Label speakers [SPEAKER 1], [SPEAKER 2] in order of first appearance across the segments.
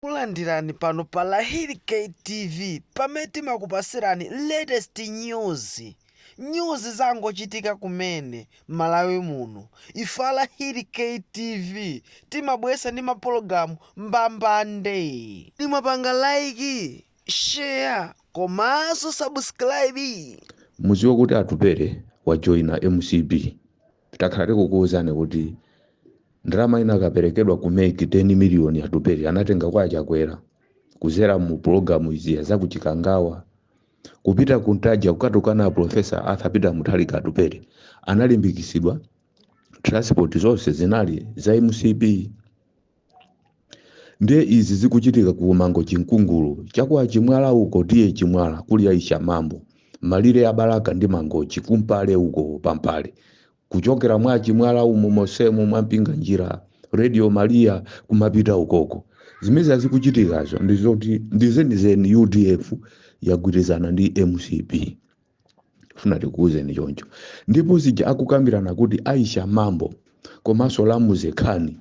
[SPEAKER 1] Takulandirani pano pa Lahiri K TV pamene timakupasirani latest news, news zangochitika kumene Malawi muno. Ife a Lahiri K TV timabweretsa ndi ma pologalamu mbambande. Kodi mwapanga like, share komanso subscribe? Mudziwe kuti
[SPEAKER 2] Atupele wajoina mcp. takhala tikukuwuzani kuti ndalama inakaperekedwa ku mec 10 miliyoni atupere anatenga kwa achakwera kuzera mu pulogalamu zija za kuchikangawa kupita ku ntaja kukatukana aprofesa arthur peter mutharika atupere analimbikitsidwa transport zonse zinali za mcp ndiye izi zikuchitika ku mangochi nkungulu chakwa chimwala uko tiye chimwala kuli a aisha mambo malire ya balaka ndi mangochi kumpale uko pampale kuchokera mwa chimwala umu mosemu mwa mpinga njira radio maria kumapita ukoko zimezi zikuchitikazo ndizoti ndizenizeni udf yagwirizana ndi mcp funa tikuwuzeni choncho ndipo zija akukambirana kuti aisha mambo komanso lamuze khani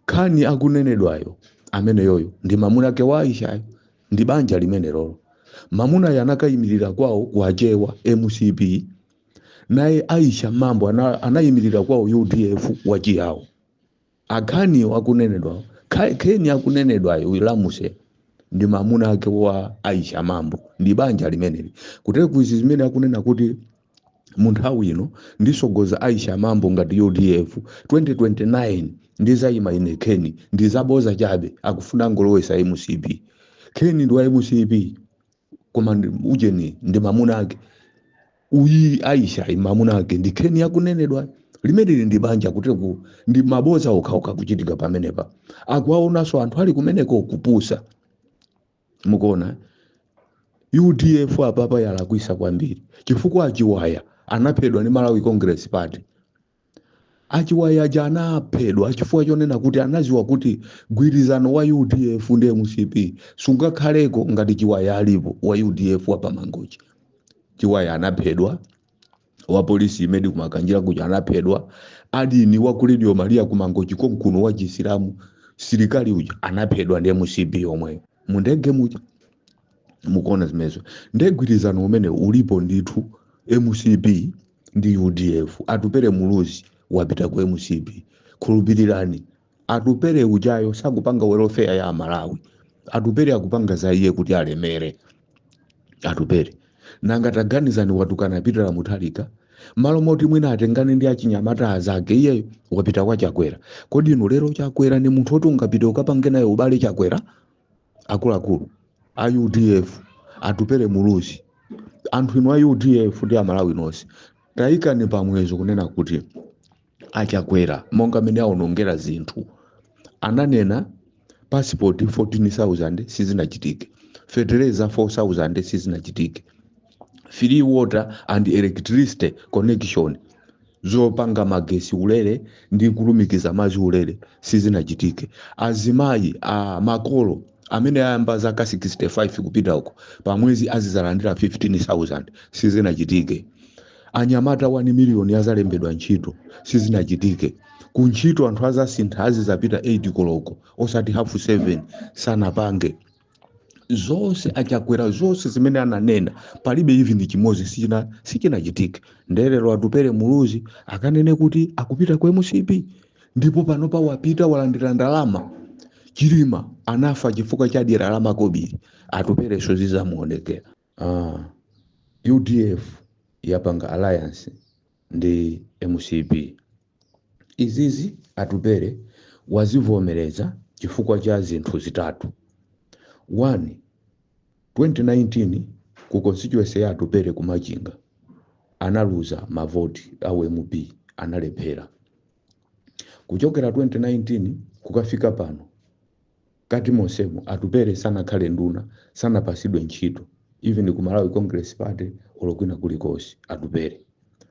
[SPEAKER 2] khani akunenedwayo ameneyoyo ndi mamuna ake wa aishayo ndi banja limenelolo mamunayo anakayimirira kwawo kwa achewa mcp naye aisha mambo anayimirira kwawo udf wachiyawo Akhani akunenedwawo, Kha- Kheni akunenedwayo uyu Lamuse ndi mamuna ake wa Aisha Mambo ndi banja limeneli. Kutereku izi zimene akunena kuti mu nthawi ino ndisogoza Aisha Mambo ngati UDF 2029 ndizayima ine Kheni ndizaboza chabe akufuna kungolowesa MCP. Kheni ndi wa MCP. koma ndi- ujeni ndi mamuna ake uyi aishayi mamuna ake ndi kheni akunenedwa limeneli ndi banja kutereku ndi maboza okhaokha akuchitika pamenepa akuwaonanso anthu ali kumeneko kupusa mukuona udf apapa yalakwisa kwambiri chifukwa achiwaya anaphedwa ndi malawi congress party Achiwaya aja anaphedwa chifukwa chonena kuti anadziwa kuti gwirizano wa udf ndi mcp sungakhaleko ngati Chiwaya alipo wa udf wa pa Mangochi. Chiwaya anaphedwa, wapolisi imedi ku Makanjira kuja anaphedwa, adini wa ku Radio Maria ku Mangochi konkuno wa chisilamu silikali uja anaphedwa ndi mcp yomweyo mu ndege muja. Mukuona zimenezo nde gwirizano umene ulipo ndithu mcp ndi udf atupere muluzi wapita ku mcp khulupirirani atupere ujayo sakupanga welfare ya amalawi atupere akupanga za iye kuti alemere atupere nanga taganizani watukana pitala mutharika malo moti mwina atengane ndi achinyamata azake iyeyo wapita kwa chakwera kodi inu lero chakwera ndi munthu woti ungapite ukapange naye ubale chakwera akuluakulu a udf atupele muluzi anthu inu a udf ndi amalawi nonse tayikani pamwezo kunena kuti achakwera monga mmene aonongera zinthu ananena pasipoti 14000 sizinachitike fetereza 4000 sizinachitike free water and electricity connection zopanga magesi ulere ndi kulumikiza madzi ulere sizinachitike azimayi makolo amene ayamba zaka 65 kupita uko pamwezi azizalandira 15000 sizinachitike anyamata 1 miliyoni azalembedwa ntchito sizinachitike ku ntchito anthu azasintha azizapita 8 koloko osati hafu 7 sanapange zonse achakwera zonse zimene ananena palibe even chimodzi sichina sichinachitike ndelero atupere muluzi akanene kuti akupita ku mcp ndipo panopa wapita walandira ndalama chilima anafa chifukwa cha dyera la makobiri atupere so zizamuonekera Aaa udf yapanga alliance ndi mcp izizi Atupele wazivomereza chifukwa cha zinthu zitatu 1 2019 ku constituency ya Atupele ku Machinga analuza ma vote a u MP analephera kuchokera 2019 kukafika pano Kati monsemo Atupele sanakhale nduna, sanapasidwe ntchito even ku Malawi Congress Party olo kwina kulikonse Atupele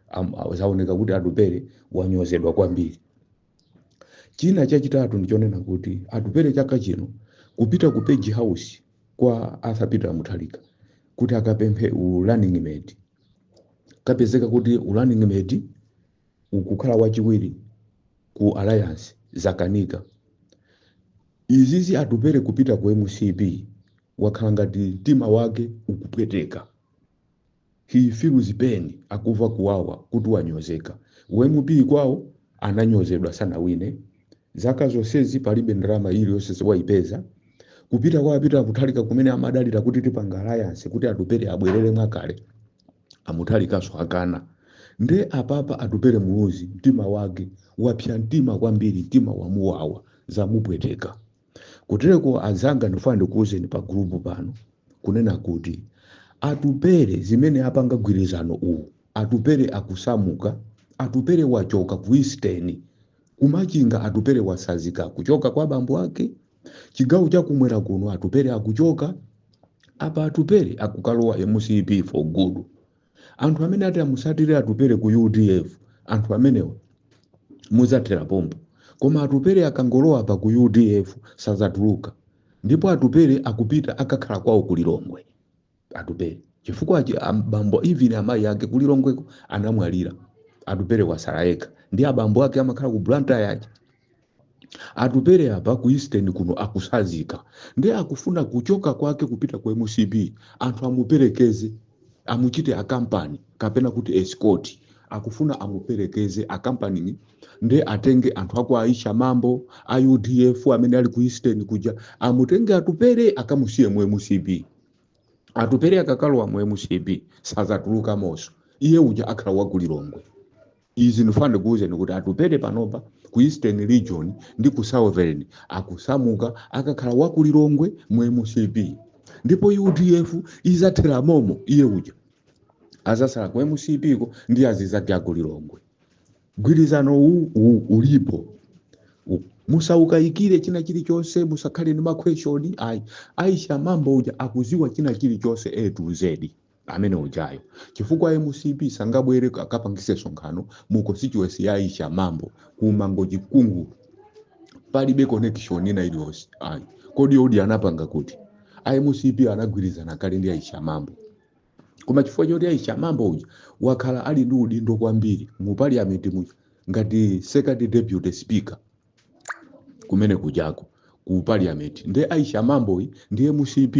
[SPEAKER 2] am, zaoneka kuti Atupele wanyozedwa kwambiri. China chachitatu ndichonena kuti Atupele chaka chino kupita ku page house kwa Arthur Peter Mutharika kuti akapemphe u running mate kapezeka kuti u running mate kukhala wachiwiri ku alliance zakanika. Izizi Atupele kupita ku mcp wakhala ngati mtima wake ukupweteka. He feels pain akuva kuwawa kuti wanyozeka. U MP kwawo ananyozedwa sanawine. Zaka zonsezi palibe ndalama iliyonse waipeza. Kupita kwa Peter Mutharika kumene amadalira kuti tipanga alliance kuti Atupele abwerere mwakale. a Mutharikanso akana nde apapa atupere muluzi mtima wake wapsa mtima kwambiri mtima wamuwawa zamupweteka kutereko azanga ndifuna ndikuwuzeni pa gulupu pano kunena kuti atupere zimene apanga gwirizano uwu atupere akusamuka atupere wachoka ku eastern kumachinga atupere wasazika kuchoka kwa bambo ake chigawo chakumwera kuno atupere akuchoka apa atupere akukalowa mcp for good anthu amene ati amusatire atupere ku udf anthu amenewa muzathera pompo koma atupere akangolowa apa ku udf sazatuluka ndipo atupere akupita akakhala kwawo ku lilongwe atupere chifukwa chi- am- bambo even amayi ake kulilongweko anamwalira atupere wasala yekha nde abambo ake amakhala ku blantyre aja atupere apa ku eastern kuno akusazika nde akufuna kuchoka kwake kupita ku mcp anthu amuperekeze amuchite akampani kapena kuti escort akufuna amuperekeze akampani nde atenge anthu akwa aisha mambo a udf amene ali ku eastern kuja amutenge atupere akamusiye mu mcp atupere akakalowa mu mcp sazatulukamonso iye uja akhala wakulilongwe izi ndifuna ndikuwuzeni kuti atupere panopa ku eastern region ndi ku southern akusamuka akakhala wakulilongwe mu mcp ndipo udf izathera momo iye uja azasala ku mcp ko ndi azizake akulilongwe Mgwirizano uwu u- ulipo. U- Musawukaikire china chilichonse, musakhale ndi makhweshoni. Ayi, Aisha mambo uja akuziwa china chilichonse A to Z amene ujayo. Chifukwa MCP sangabwere ka- kapangise sonkhano mu constituency ya Aisha mambo ku Mangochi Nkungulu palibe connection ina iliyonse ayi kodi odi anapanga kuti a mcp anagwirizana kale ndi aisha mambo koma chifukwa choti aisha mambo uja wakhala ali ndi udindo kwambiri mu parliament muja ngati second deputy speaker kumene kujako ku parliament nde aisha mamboyi ndi mcp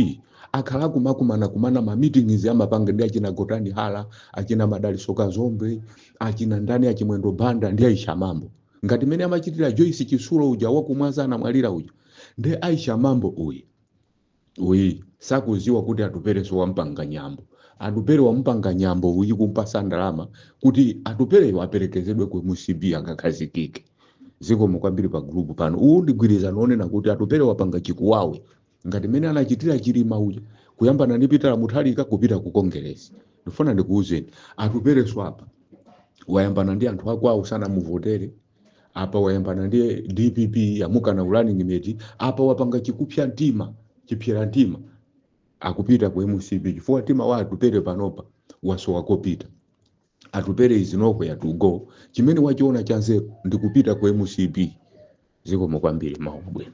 [SPEAKER 2] akhala akumakumana kumana ma meetings amapanga ndi achina gotani hara achina madaliso kazombe achina ndani a chimwendo banda ndi aisha mambo ngati mene amachitira joyce chitsulo uja wakumwanza anamwalira uja nde aisha mambo uyu uyi sakuziwa kuti atupereso wampanga nyambo atupere wamupanga nyambo uyi kumpasa ndalama kuti atupereyo aperekezedwe ku mcp akakhazikike zikomo kwambiri pa gulupu pano uwu ndigwirizano onena kuti atupere wapanga chikuwawe ngati mmene anachitira chilima uja kuyambana ndi pitala mutharika kupita ku kongeresi ndifuna ndikuwuzeni atupereso apa wayambana ndi anthu akwawo sanamuvotere apa wayambana ndi dpp yamukana running mate apa wapanga chikupsa mtima chipsera mtima akupita ku mcp chifukwa mtima wa atupere panopa wasowa kopita atupere has nowhere to go chimene wachiona chanzeru ndikupita ku mcp zikomo kwambiri mawu abwino